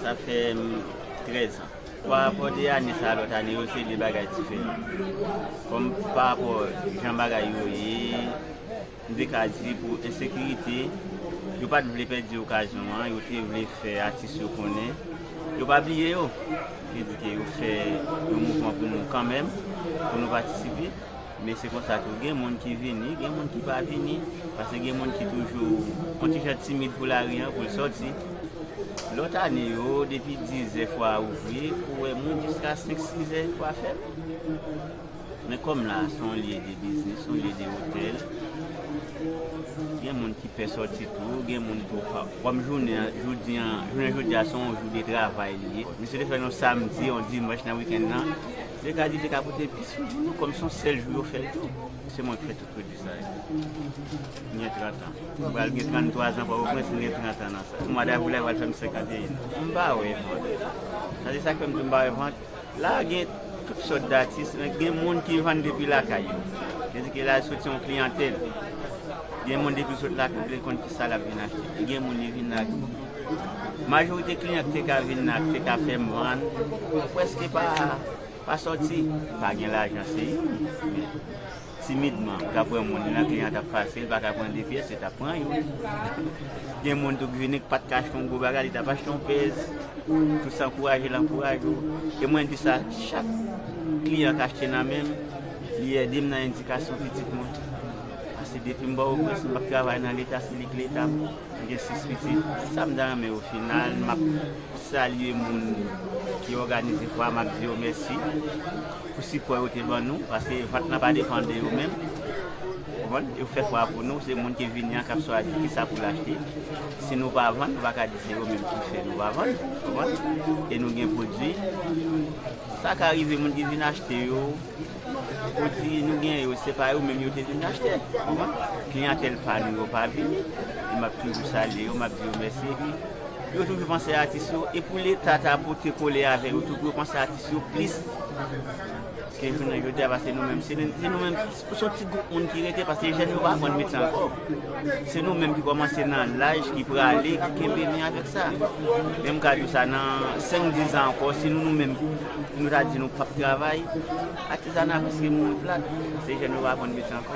Sa fè m 13 ans. Pa rapò de ane sa a lòt ane yo se 2 bagay diferan. Kòm pa rapò jan bagay yo ye, m te ka di pou ensekirite, yo pa t vle pèdi okazyon an, yo te vle fè atis yo konnen yo pa bliye yo. Yo te di ke yo fè yon mouvman pou nou kanmenm, pou nou patisipe. Men se konsa tou gen moun ki vini, gen moun ki pa vini. Pase gen moun ki toujou on ti jan timid pou lari an, pou l sòti. Lòt ane yo, depi dizè fwa a ouvri, ou wè moun jiska senk sizè fwa a fèmen. Men kòm la a se on lye de biznis, on lye de otèl, gen moun ki pè sòti tou, gen moun tou pa. Kòm jounen an, jodi an, jounen jodi a se on jou de travay li ye. Misye te fè l on samdi, on dimanch nan wikenn nan. Lè kadi te ka pote plis moun pou nou kòm son sèl jou yo fèl tou. Se mwen ki fè tout pwodwi sa yo. M gen 30 an. M pral gen 33 an pòtoprens m gen 30 an nan sa. Mwa davril la pral fè m 51 an. M pa wè vant. Sa se sak fè m di m pa wè vant. La gen tout sòt datis men gen moun ki vann depi lakay yo. Se di ke la sot se yon kliyantèl. Gen moun depi l sot lakay li konn ki sa lap vin achte. Gen moun li vin la. Majorite kliyan ki te ka vin la, ki te ka fè mwann, prèske pa sòti. Pa gen lajan se youn, men timidman ou ta pran moun, youn nan kliyan t ap pase, li pa ka pran de pyès, li t ap pran youn. Gen moun tou ki vini ki pa t ka achte yon gwo bagay, li t ap achte yon pèz. Tout sa ankouraje l ankouraje ou. E mwen di sa, chak kliyan k achte nan men m, li ede m nan edikasyon pitit mwen. Pase depi m ba yo pwens, m ap travay nan Leta, se li k Leta m. M gen 6 pitit, sa m ta renmen o final, m ap salye moun ki òganize fwa a, m ap di yo mèsi pou sipò yo te ban nou, paske vant lan pa depan de yo menm, ou konprann, yo fè fwa a pou nou, se moun ki vini an k ap chwazi ki sa pou l achte, si nou pa vann, nou pa ka di se yo menm ki fè nou pa vann, ou konprann, e nou gen pwodui, sa ka rive moun ki vin achte yo. Pwodwi nou gen yo, se pa yo menm yo te vin achte. Kliyantèl pa nou yo pa vini. E m ap toujou salye yo, m ap di yo mèsi. Epi, yo toujou panse atis yo. E pou Leta ta pote kole avè yo tou pou yo panse atis yo plis ke jounen jodi a. Paske nou menm, se nou menm, se yon ti gwoup moun ki rete. Paske jèn yo pa aprann metye ankò. Se nou menm ki kòmanse nan laj, ki prale, ki kenbe men avèk sa. Men m ka di w sa, nan senk dizan ankò, se nou nou menm. Nou ta di nou pap travay atizana piske moun plat se jèn yo pa konn mete ankò.